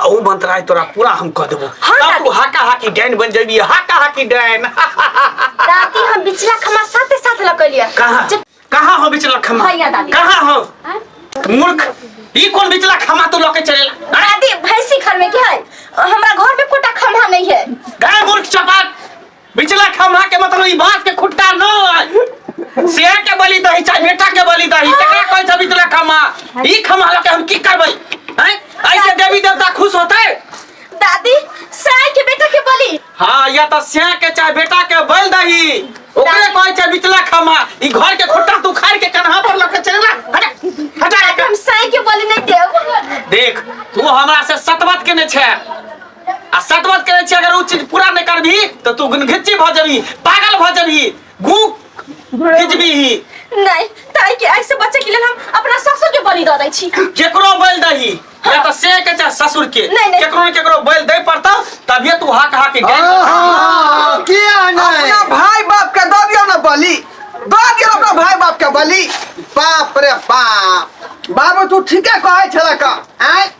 आ ओ मंत्राय तोरा पूरा हम कह देबो हाँ, तब दादी। तू हाका हाकी डाइन बन जेबी हाका हाकी डाइन दादी हम बिचला खमा साथे साथ लकलिया कहाँ जब कहाँ हो बिचला खमा भैया दादी। कहाँ हो हाँ? मूर्ख ई कौन बिचला खमा तू लके चलेला हाँ? दादी भैंसी घर में क्या है हमरा घर में कोटा खमा नहीं है गाय मूर्ख चपाट बिचला खम्हा के मतलब ई बांस के खुट्टा न है शेर के बलि दही चाहे बेटा के बलि दही तकरा कहै छै बिचला खम्हा ई खम्हा लके हम की करबै हैं ऐसे देवी देवता खुश होतै दादी साय के बेटा के बोली हाँ या तो शेर के चाहे बेटा के बलि दही ओकरे कहै छै बिचला खम्हा ई घर के खुट्टा तू खाड़ के कन्हा पर लके चल ना हटा हटा दादी हम साय के बोली नहीं देव देख तू हमरा से सतबत केने छै आ सतवत करे छी अगर उ चीज पूरा नहीं करबी तो तू घिच्ची भ जबी पागल भ जबी गु घिचबी ही नहीं ताई के ऐसे बच्चे के लिए हम अपना ससुर के बलि दे दै छी केकरो बैल दही या तो से के चाहे ससुर के नहीं, नहीं। केकरो ने केकरो बैल दे पड़ता तभी तू हाक हाक के गैल आहा, किया अपना नहीं भाई बाप के दो दियो ना बलि दो दियो अपना भाई बाप के बलि बाप रे बाप बाबू तू ठीके कहै छला का आय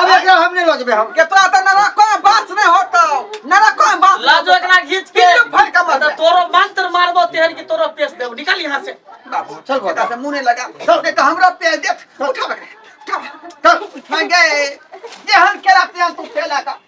अब एकरा हम नहीं लजबे हम केतरा त नरा को बात नहीं होता नरा को बात लाजो एकरा घीच के पिल्लू फड़ के मार तोरो मंत्र मारबो तेहन की तोरो पेश देब निकल यहां से बाबू चल बेटा से मुंह नहीं लगा चल के तो हमरा पे देख उठा बकरे उठा चल उठा गए जेहन केला तेहन तू केला का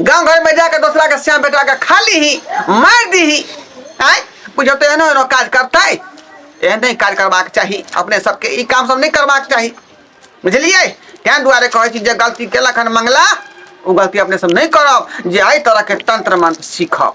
गाँव घर में जाके दोसरा के श्याम बेटा के खा ली ही मार दी ही आय बुझो तो एहनो एहनो काज करता है एहन नहीं काज करबाक चाही अपने सबके ई काम सब नहीं करबाक चाही बुझलिए तैं दुआरे कहै छी जे गलती केलक हन मंगला ओ गलती अपने सब नहीं करब जे एहि तरह के तंत्र मंत्र सीखब